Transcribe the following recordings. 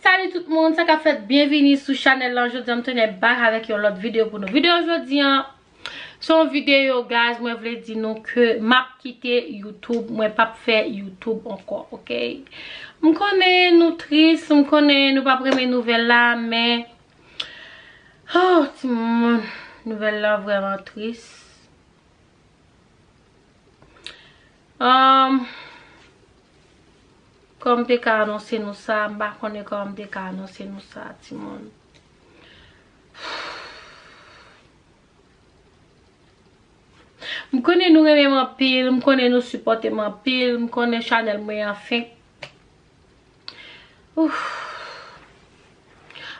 Salut tout moun, sa kap fèt? Byenvini sou chanèl lan, jodi an m tounen back avèk yon lòt videyo pou nou. Videyo jodi an. Se yon video guys mwen vle di nou ke map kite youtube mwen pap fè youtube ankò ok m konnen nou tris m konnen nou pap renmen nouvèl la men oh ti moun nouvèl la vrèman tris humm kòm te ka anonse nou sa m pa konnen kòm te ka anonse nou sa ti moun. M konnen nou renmen m anpil, m konnen nou sipòte m anpil, m konnen chanèl mwen an fenk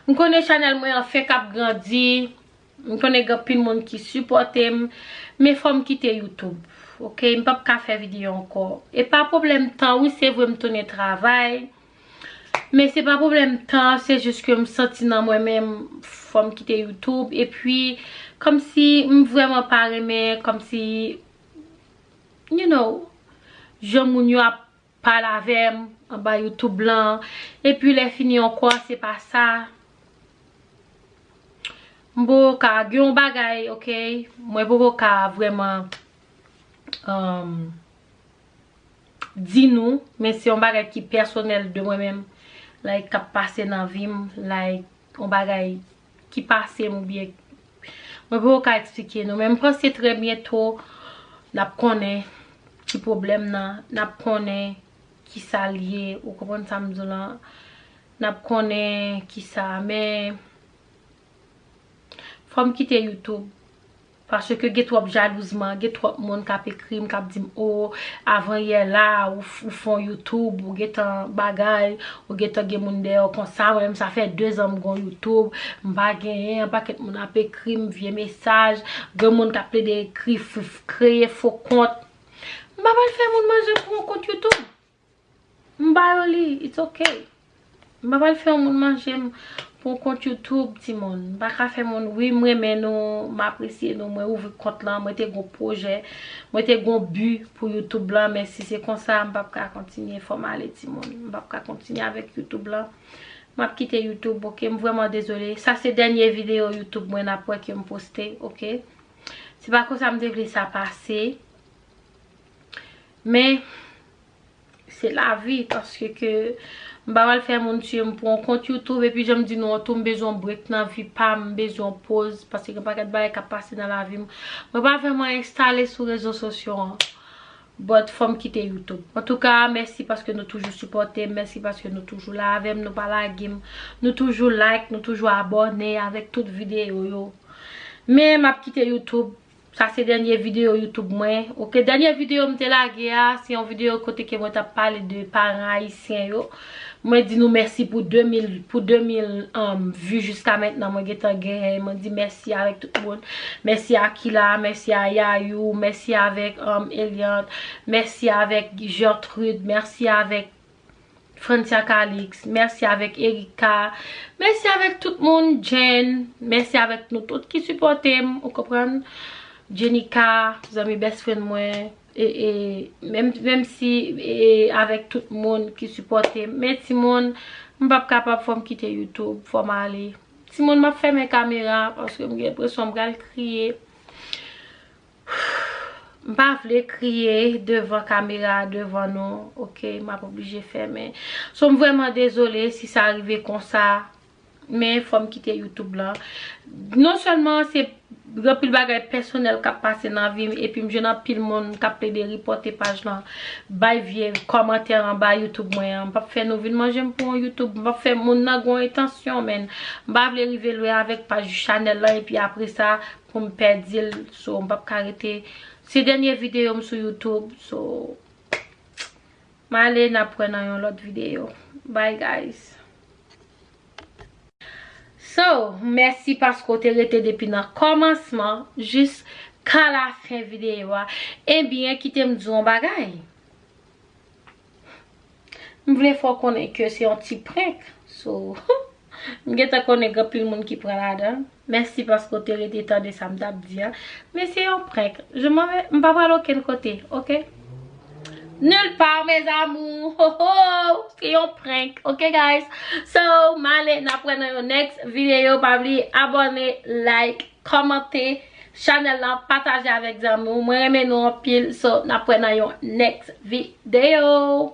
M konnen chanèl mwen an fenk ap grandi, m konnen gen anpil moun ki sipòte m, men fò m kite youtube ok, m pap ka fè videyo ankò, e pa pwoblèm tan wi se vre m tounen travay. Men se pa pwoblèm tan, se jis ke m santi nan mwen menm fò m kite YouTube. E pi, kòm si m vrèman pa renmen, kòm si, you know, jan moun yo ap pale avè m anba YouTube lan. E pi lè fini ankò, se pa sa. M poko ka, gen yon bagay, okay, mwen poko ka vrèman, um, di nou men se yon bagay ki pèsonèl de mwen menm like kap pase nan vim like yon bagay ki pasem ou byen mwen poko ka eksplike nou men m panse trè byento nap konnen ki pwoblèm nan nap konnen ki sa l ye ou konprann sa m di w lan nap konnen ki sa men fò m kite youtube Paske gen twòp jalouzman, gen twòp moun k ap ekri m, k ap di m o, avan yè la, ou fon youtube, ou gen tan bagay, ou gen tan gen moun dèyè w konsa, mwen menm sa fè dezan m gon youtube, m pa genyen, yon pakèt moun ap ekri m vye mesaj, gen moun k ap plede ekri, kreye fo kont, m pa pral fè moun manje pou yon kont youtube. M ba yo li, it's ok. M pa pral fè yon moun manje m pou yon kont YouTube ti moun. M pa ka fè moun, wi m renmen nou, m apresye nou, mwen ouvri kont lan, mwen te gon pwojè, mwen te gon bi pou YouTube lan, men si se konsa m pap ka kontinye, fò m ale ti moun. M pap ka kontinye avèk YouTube lan. M ap kite YouTube, ok. M vrèman dezole. Sa se dènye videyo YouTube mwen n ap wè ke m poste, ok. Se pa konsa m te vle sa pase. Men, se la vi, paske ke m pa pral fè moun tiye m pou yon kont YouTube, epi jan m di nou an tou, m bezwen yon break nan vi pa m, m bezwen yon poz, paske gen paket bagay kap pase nan la vi m. Mwen pa vreman enstale sou rezo sosyo an, but fò m kite YouTube. An tou ka, mèsi paske nou toujou sipòte m, mèsi paske nou toujou la avè m, nou pa lage m, nou toujou like, nou toujou abòne avèk tout videyo yo. Men, m ap kite YouTube. Sa se dènye video YouTube mwen ok. Dènye video m te lage a, se yon video kote ke mwen tap pale de paran ayisyen yo. Mwen di nou mèsi pou 2000 pou 2000 vu jiska mentnan mwen gentan gen. Mwen di mèsi avèk tout moun. Mèsi a Kila, mèsi a Yayou, mèsi avèk Eliante, mèsi avèk Gertrude, mèsi avèk Francia Calix, mèsi avèk Ericka, mèsi avèk tout moun, Jenn, mèsi avèk nou tout ki sipòte m, ou konprann, Jenika, zanmi best friend mwen, e, e, menm, menm si, e, e, avèk tout moun ki sipòte m, men ti moun, m pap kapab fò m kite YouTube, fò m ale. Ti moun m ap fèmen kamera, paske m gen enpresyon m pral kriye. M pa vle kriye devan kamera a devan nou ok m ap oblije fèmen so m vrèman dezole si sa rive konsa men fò m kite youtube lan non sèlman se gen anpil bagay pèsonèl k ap pase nan vi m epi m jwenn anpil moun k ap plede ripòte paj lan bay vye kòmantè anba youtube mwen an m p ap fè nou vin manje m pou yon youtube m p ap fè moun nan gen yon entansyon menn m pa vle rive lwen avèk paj chanèl lan epi apresa pou m pèdi l so m pap ka rete se dènye videyo m sou youtube so m ale n ap wè nan yon lòt videyo bye guys. So mèsi paske w te rete depi nan kòmansman jis ka lafen videyo a ebyen kite m di w yon bagay. M vle fè w konnen ke se yon ti prank so m gentan konnen gen anpil moun ki pran ladan. Mèsi paske w te rete tande sa m t ap di a. Men se yon prank. Je m'en vais, m pa pral okenn kote ok. Nulle part mes amours ho ho se yon prank ok guys. So m ale n ap wè nan yon next video pa bliye abone, like, kòmante. Chanel la pataje avek zanmi w mwen renmen nou anpil so nap wè nan yon next video.